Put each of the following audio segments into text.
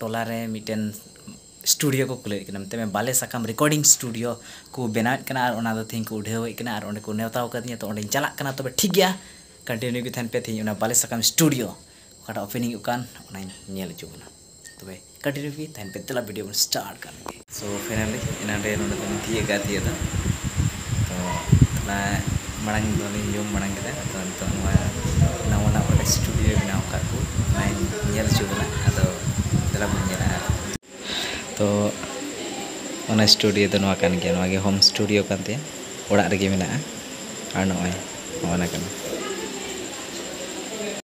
ᱴᱚᱞᱟ ᱨᱮ ᱢᱤᱫᱴᱮᱱ ᱥᱴᱩᱰᱤᱭᱳ ᱠᱚ ᱠᱷᱩᱞᱟᱹᱣᱮᱫ ᱠᱟᱱᱟ ᱢᱮᱛᱟᱜ ᱢᱮ ᱵᱟᱞᱮ ᱥᱟᱠᱟᱢ ᱨᱮᱠᱚᱨᱰᱤᱝ ᱥᱴᱩᱰᱤᱭᱳ ᱠᱚ ᱵᱮᱱᱟᱣᱮᱫ ᱠᱟᱱᱟ ᱟᱨ ᱚᱱᱟ ᱫᱚ ᱛᱮᱦᱮᱧ ᱠᱚ ᱩᱰᱷᱟᱹᱣᱮᱫ ᱠᱟᱱᱟ ᱟᱨ ᱚᱸᱰᱮ ᱠᱚ ᱱᱮᱶᱛᱟ ᱟᱠᱟᱫᱤᱧᱟᱹ ᱛᱚ ᱚᱸᱰᱮᱧ ᱪᱟᱞᱟᱜ ᱠᱟᱱᱟ ᱛᱚᱵᱮ ᱴᱷᱤᱠ ᱜᱮᱭᱟ ᱠᱚᱱᱴᱤᱱᱤᱭᱩ ᱜᱮ ᱛᱟᱦᱮᱱ ᱯᱮ ᱛᱮᱦᱮᱧ ᱚᱱᱟ ᱵᱟᱞᱮ ᱥᱟᱠᱟᱢ ᱥᱴᱩᱰᱤᱭᱳ ᱚᱠᱟᱴᱟᱜ ᱳᱯᱮᱱᱤᱝᱚᱜ ᱠᱟᱱ ᱚᱱᱟᱧ ᱧᱮᱞ ᱦᱚᱪᱚ ᱵᱚᱱᱟ ᱛᱚᱵᱮ ᱠᱚᱱᱴᱤᱱᱤᱭᱩ ᱜᱮ ᱛᱟᱦᱮᱱ ᱯᱮ ᱫᱮᱞᱟ ᱵᱷᱤᱰᱤᱭᱳ ᱵᱚᱱ ᱥᱴᱟᱨᱴ ᱠᱟᱜ ᱞᱮᱜᱮ ᱥᱚ ᱯᱷᱟᱭᱱᱟᱞᱤ ᱮᱱᱟᱱ ᱨᱮ ᱱᱚᱰᱮ ᱫᱚᱞᱤᱧ ᱛᱤᱭᱟᱹᱜ ᱠᱟᱜᱼᱟ ᱛᱤᱭᱟᱹᱜ ᱫᱚ ᱛᱚ ᱛᱷᱚᱲᱟ ᱢᱟᱲᱟᱝ ᱫᱚᱞᱤᱧ ᱡᱚᱢ ᱢᱟᱲᱟᱝ ᱠᱮᱫᱟ ᱟᱫᱚ ᱱᱤᱛᱚᱜ ᱱᱚᱣᱟ ᱱᱟᱣᱟᱱᱟᱜ ᱚᱠᱟᱴᱟᱜ ᱥᱴᱩᱰᱤᱭᱳᱭ ᱵᱮᱱᱟᱣ ᱟᱠᱟᱫ ᱠᱚ ᱚᱱᱟᱧ ᱧᱮᱞ ᱦᱚᱪᱚ ᱵᱮᱱᱟ ᱟᱫᱚ ᱫᱮᱞᱟ ᱵᱚᱱ ᱧᱮᱞᱟ ᱟᱨ ᱛᱚ ᱚᱱᱟ ᱥᱴᱩᱰᱤᱭᱳ ᱫᱚ ᱱᱚᱣᱟ ᱠᱟᱱ ᱜᱮᱭᱟ ᱱᱚᱣᱟ ᱜᱮ ᱦᱳᱢ ᱥᱴᱩᱰᱤᱭᱳ ᱠᱟᱱ ᱛᱟᱭᱟ ᱚᱲᱟᱜ ᱨᱮᱜᱮ ᱢᱮᱱᱟᱜᱼᱟ ᱟᱨ ᱱᱚᱜᱼᱚᱭ ᱱᱚᱜᱼᱚ ᱱᱟ ᱠᱟᱱᱟ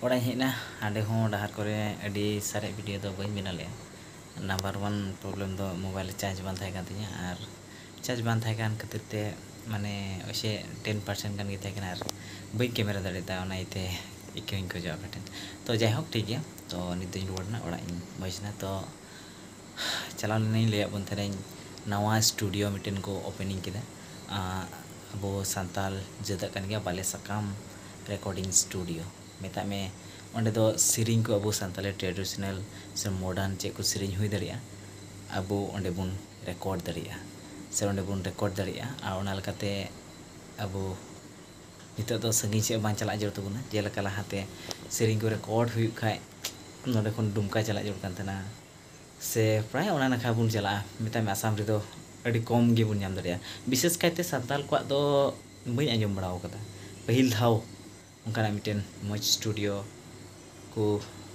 ᱚᱲᱟᱜ ᱤᱧ ᱦᱮᱡ ᱮᱱᱟ ᱦᱟᱸᱰᱮ ᱦᱚᱸ ᱰᱟᱦᱟᱨ ᱠᱚᱨᱮ ᱟᱹᱰᱤ ᱥᱟᱨᱮᱡ ᱵᱷᱤᱰᱤᱭᱳ ᱫᱚ ᱵᱟᱹᱧ ᱵᱮᱱᱟᱣ ᱞᱮᱫᱼᱟ ᱱᱟᱢᱵᱟᱨ ᱚᱣᱟᱱ ᱯᱨᱚᱵᱽᱞᱮᱢ ᱫᱚ ᱢᱳᱵᱟᱭᱤᱞ ᱨᱮ ᱪᱟᱨᱡᱽ ᱵᱟᱝ ᱛᱟᱦᱮᱸ ᱠᱟᱱ ᱛᱤᱧᱟᱹ ᱟᱨ ᱪᱟᱨᱡᱽ ᱵᱟᱝ ᱛᱟᱦᱮᱸ ᱠᱟᱱ ᱠᱷᱟᱹᱛᱤᱨ ᱛᱮ ᱢᱟᱱᱮ ᱳᱭᱥᱮ ᱴᱮᱱ ᱯᱟᱨᱥᱮᱱᱴ ᱜᱟᱱ ᱜᱮ ᱛᱟᱦᱮᱸ ᱠᱟᱱᱟ ᱟᱨ ᱵᱟᱹᱧ ᱠᱮᱢᱮᱨᱟ ᱫᱟᱲᱮᱭᱟᱫᱟ ᱚᱱᱟ ᱤᱭᱟᱹᱛᱮ ᱤᱠᱟᱹ ᱦᱚᱧ ᱠᱷᱚᱡᱚᱜᱼᱟ ᱟᱯᱮ ᱴᱷᱮᱱ ᱛᱳ ᱡᱟᱭᱦᱳᱠ ᱴᱷᱤᱠ ᱜᱮᱭᱟ ᱛᱳ ᱱᱤᱛᱚᱜ ᱤᱧ ᱨᱩᱣᱟᱹᱲ ᱮᱱᱟ ᱚᱲᱟᱜ ᱤᱧ ᱵᱷᱚᱡᱽ ᱮᱱᱟ ᱛᱳ ᱪᱟᱞᱟᱣ ᱞᱮᱱᱟᱹᱧ ᱞᱟᱹᱭᱟᱫ ᱵᱚᱱ ᱛᱟᱦᱮᱱᱟᱹᱧ ᱱᱟᱣᱟ ᱥᱴᱩᱰᱤᱭᱳ ᱢᱤᱫᱴᱮᱱ ᱠᱚ ᱳᱯᱮᱱᱤᱝ ᱠᱮᱫᱟ ᱟᱵᱚ ᱥᱟᱱᱛᱟᱲ ᱡᱟᱹᱛᱟᱜ ᱠᱟᱱ ᱜᱮᱭᱟ ᱵᱟᱞᱮ ᱥᱟᱠᱟᱢ ᱨᱮᱠᱳᱰᱤᱝ ᱥᱴᱩᱰᱤᱭᱳ ᱢᱮᱛᱟᱜ ᱢᱮ ᱚᱸᱰᱮ ᱫᱚ ᱥᱮᱨᱮᱧ ᱠᱚ ᱟᱵᱚ ᱥᱟᱱᱛᱟᱲᱤ ᱴᱨᱮᱰᱤᱥᱚᱱᱟᱞ ᱥᱮ ᱢᱳᱰᱟᱨᱱ ᱪᱮᱫ ᱠᱚ ᱥᱮᱨᱮᱧ ᱦᱩᱭ ᱫᱟᱲᱮᱭᱟᱜᱼᱟ ᱟᱵᱚ ᱚᱸᱰᱮ ᱵᱚᱱ ᱨᱮᱠᱳᱨᱰ ᱫᱟᱲᱮᱭᱟᱜᱼᱟ ᱥᱮ ᱚᱸᱰᱮ ᱵᱚᱱ ᱨᱮᱠᱳᱨᱰ ᱫᱟᱲᱮᱭᱟᱜᱼᱟ ᱟᱨ ᱚᱱᱟ ᱞᱮᱠᱟᱛᱮ ᱟᱵᱚ ᱱᱤᱛᱚᱜ ᱫᱚ ᱥᱟᱺᱜᱤᱧ ᱥᱮᱫ ᱵᱟᱝ ᱪᱟᱞᱟᱜ ᱡᱟᱹᱨᱩᱲ ᱛᱟᱵᱚᱱᱟ ᱡᱮᱞᱮᱠᱟ ᱞᱟᱦᱟᱛᱮ ᱥᱮᱨᱮᱧ ᱠᱚ ᱨᱮᱠᱳᱨᱰ ᱦᱩᱭᱩᱜ ᱠᱷᱟᱱ ᱱᱚᱸᱰᱮ ᱠᱷᱚᱱ ᱫᱩᱢᱠᱟ ᱪᱟᱞᱟᱜ ᱡᱟᱹᱨᱩᱲ ᱠᱟᱱ ᱛᱟᱦᱮᱱᱟ ᱥᱮ ᱯᱨᱟᱭ ᱚᱱᱟ ᱱᱟᱠᱷᱟ ᱵᱚᱱ ᱪᱟᱞᱟᱜᱼᱟ ᱢᱮᱛᱟᱭ ᱢᱮ ᱟᱥᱟᱢ ᱨᱮᱫᱚ ᱟᱹᱰᱤ ᱠᱚᱢ ᱜᱮᱵᱚᱱ ᱧᱟᱢ ᱫᱟᱲᱮᱭᱟᱜᱼᱟ ᱵᱤᱥᱮᱥ ᱠᱟᱭᱛᱮ ᱥᱟᱱᱛᱟᱲ ᱠᱚᱣᱟᱜ ᱫᱚ ᱵᱟᱹᱧ ᱟᱸᱡᱚᱢ ᱵᱟᱲᱟ ᱟᱠᱟᱫᱟ ᱯᱟᱹᱦᱤᱞ ᱫᱷᱟᱣ ᱚᱱᱠᱟᱱᱟᱜ ᱢᱤᱫᱴᱮᱱ ᱢᱚᱡᱽ ᱥᱴᱩᱰᱤᱭᱳ ᱠᱚ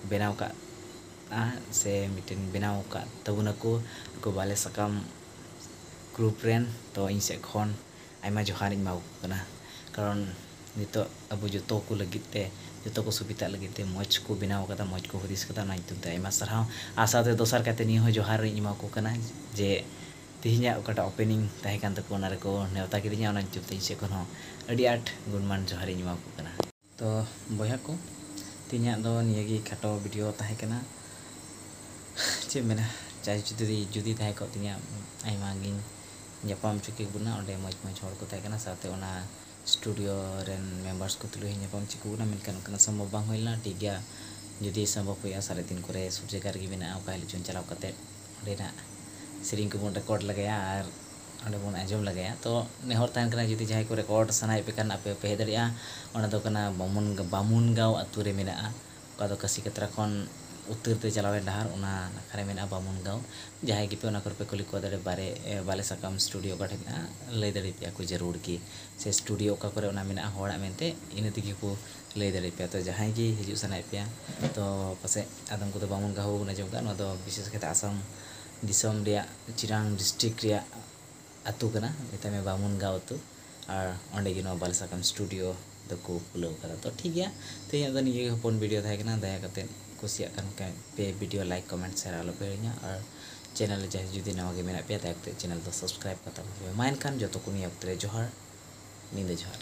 ᱵᱮᱱᱟᱣ ᱟᱠᱟᱫᱼᱟ ᱥᱮ ᱢᱤᱫᱴᱮᱱ ᱵᱮᱱᱟᱣ ᱟᱠᱟᱫ ᱛᱟᱵᱚᱱᱟᱠᱚ ᱱᱩᱠᱩ ᱵᱟᱞᱮ ᱥᱟᱠᱟᱢ ᱜᱨᱩᱯ ᱨᱮᱱ ᱛᱳ ᱤᱧ ᱥᱮᱫ ᱠᱷᱚᱱ ᱟᱭᱢᱟ ᱡᱚᱦᱟᱨ ᱤᱧ ᱮᱢᱟᱣᱟᱠᱚ ᱠᱟᱱᱟ ᱠᱟᱨᱚᱱ ᱱᱤᱛᱚᱜ ᱟᱵᱚ ᱡᱚᱛᱚ ᱠᱚ ᱞᱟᱹᱜᱤᱫ ᱛᱮ ᱡᱚᱛᱚ ᱠᱚ ᱥᱩᱵᱤᱫᱷᱟᱜ ᱞᱟᱹᱜᱤᱫ ᱛᱮ ᱢᱚᱡᱽ ᱠᱚ ᱵᱮᱱᱟᱣ ᱟᱠᱟᱫᱟ ᱢᱚᱡᱽ ᱠᱚ ᱦᱩᱫᱤᱥ ᱟᱠᱟᱫᱟ ᱚᱱᱟ ᱧᱩᱛᱩᱢ ᱛᱮ ᱟᱭᱢᱟ ᱥᱟᱨᱦᱟᱣ ᱟᱨ ᱥᱟᱶᱛᱮ ᱫᱚᱥᱟᱨ ᱠᱟᱭᱛᱮ ᱱᱤᱭᱟᱹ ᱦᱚᱸ ᱡᱚᱦᱟᱨ ᱤᱧ ᱮᱢᱟᱣᱟᱠᱚ ᱠᱟᱱᱟ ᱡᱮ ᱛᱮᱦᱮᱧᱟᱜ ᱚᱠᱟᱴᱟᱜ ᱳᱯᱮᱱᱤᱝ ᱛᱟᱦᱮᱸ ᱠᱟᱱ ᱛᱟᱠᱚ ᱚᱱᱟ ᱨᱮᱠᱚ ᱱᱮᱶᱛᱟ ᱠᱤᱫᱤᱧᱟ ᱚᱱᱟ ᱧᱩᱛᱩᱢ ᱛᱮ ᱤᱧ ᱥᱮᱫ ᱠᱷᱚᱱ ᱦᱚᱸ ᱟᱹᱰᱤ ᱟᱸᱴ ᱜᱩᱱᱢᱟᱱ ᱡᱚᱦᱟᱨ ᱤᱧ ᱮᱢᱟᱣᱟᱠᱚ ᱠᱟᱱᱟ ᱛᱚ ᱵᱚᱭᱦᱟ ᱠᱚ ᱛᱮᱦᱮᱧᱟᱜ ᱫᱚ ᱱᱤᱭᱟᱹ ᱜᱮ ᱠᱷᱟᱴᱚ ᱵᱷᱤᱰᱤᱭᱳ ᱛᱟᱦᱮᱸ ᱠᱟᱱᱟ ᱪᱮᱫ ᱢᱮᱱᱟ ᱪᱟᱭ ᱡᱩᱫᱤ ᱡᱩᱫᱤ ᱛᱟᱦᱮᱸ ᱠᱚᱜ ᱛᱤᱧᱟ ᱟᱭᱢᱟ ᱜᱤᱧ ᱧᱟᱯᱟᱢ ᱦᱚᱪᱚ ᱠᱮ ᱵᱚᱱᱟ ᱚᱸᱰᱮ ᱢᱚᱡᱽ ᱢᱚᱡᱽ ᱦᱚᱲ ᱠᱚ ᱛᱟᱦᱮᱸ ᱠᱟᱱᱟ ᱥᱟᱶᱛᱮ ᱚᱱᱟ ᱥᱴᱩᱰᱤᱭᱳ ᱨᱮᱱ ᱢᱮᱢᱵᱟᱨᱥ ᱠᱚ ᱛᱩᱞᱩᱡ ᱦᱚᱸ ᱧᱟᱯᱟᱢ ᱦᱚᱪᱚ ᱠᱮ ᱵᱚᱱᱟ ᱢᱮᱱᱠᱷᱟᱱ ᱚᱱᱠᱟᱱᱟᱜ ᱥᱚᱢᱵᱷᱚᱵ ᱵᱟᱝ ᱦᱩᱭ ᱞᱮᱱᱟ ᱴᱷᱤᱠ ᱜᱮᱭᱟ ᱡᱩᱫᱤ ᱥᱚᱢᱵᱷᱚᱵ ᱦᱩᱭᱩᱜᱼᱟ ᱥᱟᱨᱮᱡ ᱫᱤᱱ ᱠᱚᱨᱮ ᱥᱩᱨ ᱡᱟᱭᱜᱟ ᱨᱮᱜᱮ ᱢᱮᱱᱟᱜᱼᱟ ᱚᱠᱟ ᱦᱤᱞᱳᱜ ᱪᱚᱝ ᱪᱟᱞᱟᱣ ᱠᱟᱛᱮ ᱚᱸᱰᱮᱱᱟᱜ ᱥᱮᱨᱮᱧ ᱠᱚᱵᱚᱱ ᱨᱮᱠᱳᱨᱰ ᱞᱮᱜᱟᱭᱟ ᱟᱨ ᱱᱚᱰᱮ ᱵᱚᱱ ᱟᱸᱡᱚᱢ ᱞᱮᱜᱟᱭᱟ ᱛᱚ ᱱᱮᱦᱚᱨ ᱛᱟᱦᱮᱱ ᱠᱟᱱᱟ ᱡᱩᱫᱤ ᱡᱟᱦᱟᱸᱭ ᱠᱚ ᱨᱮᱠᱚᱨᱰ ᱥᱟᱱᱟᱭᱮᱫ ᱯᱮ ᱠᱷᱟᱱ ᱟᱯᱮ ᱯᱮ ᱦᱮᱡ ᱫᱟᱲᱮᱭᱟᱜᱼᱟ ᱚᱱᱟ ᱫᱚ ᱠᱟᱱᱟ ᱵᱟᱢᱚᱱ ᱵᱟᱢᱚᱱ ᱜᱟᱶ ᱟᱹᱛᱩ ᱨᱮ ᱢᱮᱱᱟᱜᱼᱟ ᱚᱠᱟ ᱫᱚ ᱠᱟᱹᱥᱤ ᱠᱟᱛᱨᱟ ᱠᱷᱚᱱ ᱩᱛᱟᱹᱨ ᱛᱮ ᱪᱟᱞᱟᱣ ᱮᱱ ᱰᱟᱦᱟᱨ ᱚᱱᱟ ᱱᱟᱠᱷᱟ ᱨᱮ ᱢᱮᱱᱟᱜᱼᱟ ᱵᱟᱢᱚᱱ ᱜᱟᱶ ᱡᱟᱦᱟᱸᱭ ᱜᱮᱯᱮ ᱚᱱᱟ ᱠᱚᱨᱮ ᱯᱮ ᱠᱩᱞᱤ ᱠᱚᱣᱟ ᱫᱟᱲᱮ ᱵᱟᱨᱮ ᱵᱟᱞᱮ ᱥᱟᱠᱟᱢ ᱥᱴᱩᱰᱤᱭᱳ ᱚᱠᱟ ᱴᱷᱮᱱ ᱢᱮᱱᱟᱜᱼᱟ ᱞᱟᱹᱭ ᱫᱟᱲᱮ ᱯᱮᱭᱟ ᱠᱚ ᱡᱟᱹᱨᱩᱲ ᱜᱮ ᱥᱮ ᱥᱴᱩᱰᱤᱭᱳ ᱚᱠᱟ ᱠᱚᱨᱮ ᱚᱱᱟ ᱢᱮᱱᱟᱜᱼᱟ ᱦᱚᱲᱟᱜ ᱢᱮᱱᱛᱮ ᱤᱱᱟᱹ ᱛᱮᱜᱮ ᱠᱚ ᱞᱟᱹᱭ ᱫᱟᱲᱮ ᱯᱮᱭᱟ ᱛᱚ ᱡᱟᱦᱟᱸᱭ ᱜᱮ ᱦᱤᱡᱩᱜ ᱥᱟᱱᱟᱭᱮᱫ ᱯᱮᱭᱟ ᱛᱚ ᱯᱟᱥᱮᱡ ᱟᱫᱚᱢ ᱠᱚᱫᱚ ᱵᱟᱢᱚᱱ ᱜᱟᱶ ᱦᱚᱸ ᱵᱟᱵᱚᱱ ᱟᱸᱡᱚᱢ ᱠᱟᱜᱼᱟ ᱱᱚᱣᱟ ᱫᱚ ᱵᱤᱥᱮᱥ ᱠᱟᱭᱛᱮ ᱟᱥᱟᱢ ᱫᱤᱥᱚᱢ ᱨᱮᱭᱟᱜ ᱪᱤᱨᱟᱝ ᱰᱤᱥᱴᱨᱤᱠ ᱨᱮᱭᱟᱜ ᱟᱹᱛᱩ ᱠᱟᱱᱟ ᱢᱮᱛᱟᱭ ᱢᱮ ᱵᱟᱢᱩᱱ ᱜᱟᱶ ᱟᱹᱛᱩ ᱟᱨ ᱚᱸᱰᱮ ᱜᱮ ᱱᱚᱣᱟ ᱵᱟᱞᱮ ᱥᱟᱠᱟᱢ ᱥᱴᱩᱰᱤᱭᱳ ᱫᱚ ᱠᱚ ᱠᱷᱩᱞᱟᱹᱣ ᱟᱠᱟᱫᱟ ᱛᱚ ᱴᱷᱤᱠ ᱜᱮᱭᱟ ᱛᱮᱦᱮᱧᱟᱜ ᱫᱚ ᱱᱤᱭᱟᱹ ᱜᱮ ᱦᱚᱯᱚᱱ ᱵᱷᱤᱰᱤᱭᱳ ᱛᱟᱦᱮᱸ ᱠᱟᱱᱟ ᱫᱟᱭᱟ ᱠᱟᱛᱮ ᱠᱩᱥᱤᱭᱟᱜ ᱠᱟᱱ ᱠᱷᱟᱱ ᱯᱮ ᱵᱷᱤᱰᱤᱭᱳ ᱞᱟᱭᱤᱠ ᱠᱚᱢᱮᱱᱴ ᱥᱮᱭᱟᱨ ᱟᱞᱚ ᱯᱮ ᱦᱤᱲᱤᱧᱟ ᱟᱨ ᱪᱮᱱᱮᱞ ᱨᱮ ᱡᱟᱦᱟᱸᱭ ᱡᱩᱫᱤ ᱱᱟᱣᱟ ᱜᱮ ᱢᱮᱱᱟᱜ ᱯᱮᱭᱟ ᱫᱟᱭᱟ ᱠᱟᱛᱮ ᱪᱮᱱᱮᱞ ᱫᱚ ᱥᱟᱵᱥᱠᱨᱟᱭᱤᱵ ᱠᱟᱛᱟᱢ ᱯᱮ ᱢᱟ ᱮᱱᱠᱷᱟᱱ ᱡᱚᱛᱚ ᱠᱚ ᱱᱤᱭᱟᱹ ᱚᱠᱛᱚ ᱨᱮ ᱡᱚᱦᱟᱨ ᱧᱤᱫᱟᱹ ᱡᱚᱦᱟᱨ᱾